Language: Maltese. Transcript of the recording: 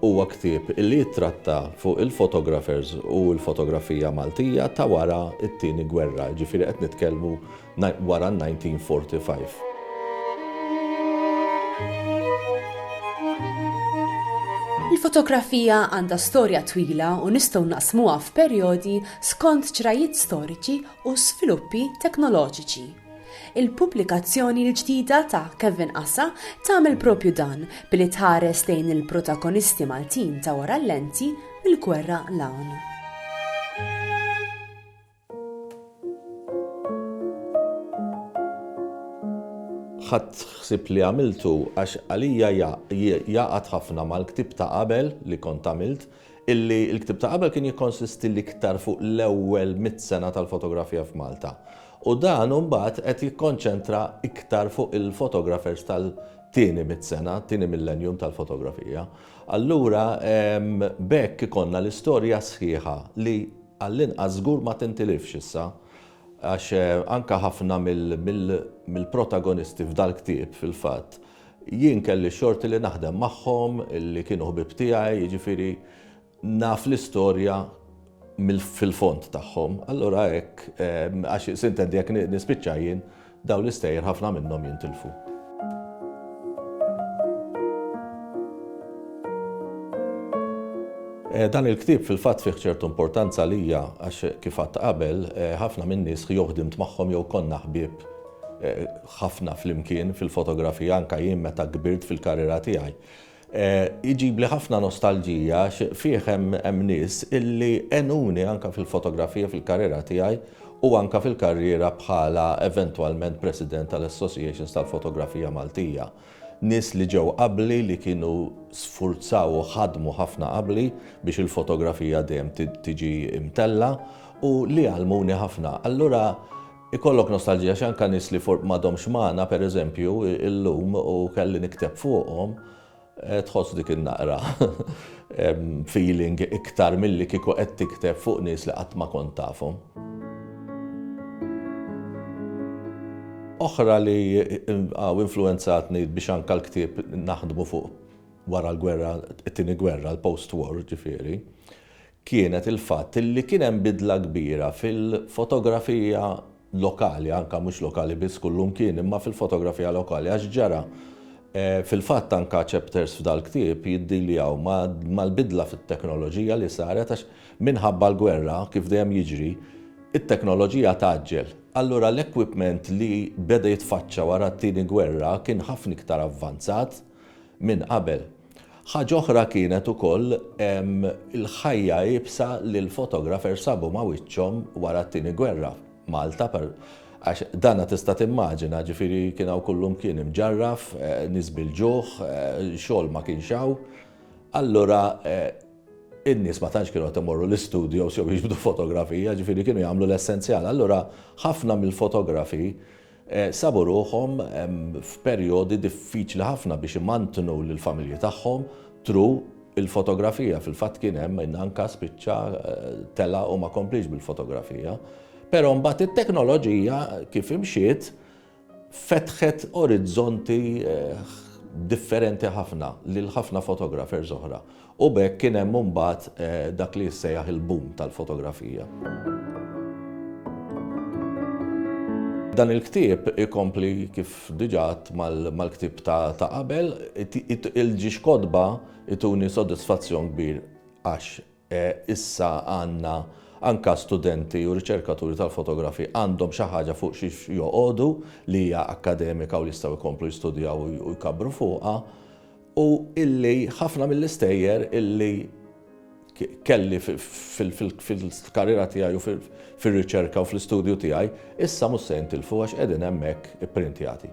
Huwa ktieb li jittratta fuq il-photographers u l-fotografija Maltija ta' wara t-Tieni Gwerra, jiġifieri qed nitkellmu wara n-1945. Il-fotografija għandha storja twila u nistgħu naqsmuha f'perjodi skont ċrajiet storiċi u żviluppi teknoloġiċi. Il-pubblikazzjoni l-ġdida ta' Kevin Assa tagħmel propju dan billi tħares lejn il-protagonisti Maltin ta' wara l-lenti mill-gwerra 'l hawn. Ħadt ħsieb li għamiltu għax għalija jgħaqad ħafna mal-ktieb ta' qabel li kont għamilt, illi l-ktieb ta' qabel kien jikkonsisti l-iktar fuq l-ewwel mitt sena tal-fotografija f'Malta, u dan imbagħad qed jikkonċentra iktar fuq il-fotografers tal-tieni mitt sena, tieni millenjum tal-fotografija. Allura b'hekk ikollna l-istorja sħiħa li għall-inqas żgur ma tintilifx issa għax anke ħafna mill-protagonisti f'dal-ktieb fil-fatt, Jien kelli x-xorti li naħdem magħhom li kienu ħbieb tiegħi, jiġifieri naf l-istorja fil-fond tagħhom. Allura hekk, għax sintendi jekk nispiċċa jien, dawn l-istejjer ħafna minnhom jintilfu. Dan il-ktieb fil-fatt fih ċertu importanza għalija għax kif għadt qabel, ħafna min-nies jew ħdimt magħhom jew konna ħbieb ħafna flimkien fil-fotografija anke jien meta kbirt fil-karriera tiegħi. Iġibli ħafna nostalġija għax fih hemm nies illi għenuni anke fil-fotografija fil-karriera tiegħi u anke fil-karriera bħala eventwalment President tal-Associations tal-Fotografija Maltija. Nies li ġew qabli li kienu sfurzaw u ħadmu ħafna qabli biex il-fotografija dejjem tiġi mtellgħa u li għallmuni ħafna. Allura, Ikollok nostalġija xi anke nies li for m'għadhomx magħna, per eżempju, illum u kelli nikteb fuqhom, tħoss dik in-naqra feeling iktar milli kieku qed tikteb fuq nies li qatt ma kont tafhom. Oħra li influwenzatni biex anke l-ktieb naħdmu fuq wara l-gwerra, it-tieni gwerra, l-post-war, ġifieri, kienet il-fatt li kien hemm bidla kbira fil-fotografija lokali, anke mhux lokali biss kullu mkien, imma fil-fotografija lokali għax ġara, fil-fatt anke chapters f'dal-ktieb jiddiljaw mal-bidla fit-teknoloġija li saret għax minħabba l-gwerra, kif dejjem jiġri, it-teknoloġija tgħaġġel. Allura l-equipment li beda jitfaċċa wara t-Tieni Gwerra kien ħafna iktar avvanzat minn qabel. Ħaġa oħra kienet ukoll il-ħajja iebsa li l-photographer sabu ma' wiċċhom wara t-Tieni Gwerra, Malta, għax dana tista' timmaġina, ġifieri kien hawn kullumkien imġarraf, nies bil-ġuħ, xogħol ma kienx hawn, allura n-nies ma tantx kienu qed imorru l-istudios jew jiġbdu fotografija, ġifieri kienu jagħmlu l-essenzjal. Allura ħafna mill-fotografi sabu ruħhom f'perjodi diffiċli ħafna biex imantnu lill-familji tagħhom thru l-fotografija. Fil-fatt kien hemm min anka spiċċa tela' u ma kompliex bil-fotografija. Però mbagħad it-teknoloġija kif imxiet fetħet orizzonti differenti ħafna lil ħafna photographers oħra. U b'hekk kien hemm imbagħad dak li jissejjaħ il-boom tal-fotografija. Dan il-ktieb ikompli kif diġà għadt mal-ktieb ta' qabel, il-ġiex kotba jtuni sodisfazzjon kbir għax issa għandna anke studenti u riċerkaturi tal-fotografi għandhom xi ħaġa fuq xiex joqogħdu li hija akkademika u li jistgħu jkomplu jistudjaw u jkabbru fuqha. u illi ħafna mill-istejjer illi kelli fil-karriera tiegħi u fir-riċerka u fl-istudju tiegħi issa mhux se jintilfu għax qegħdin hemmhekk ipprintjati.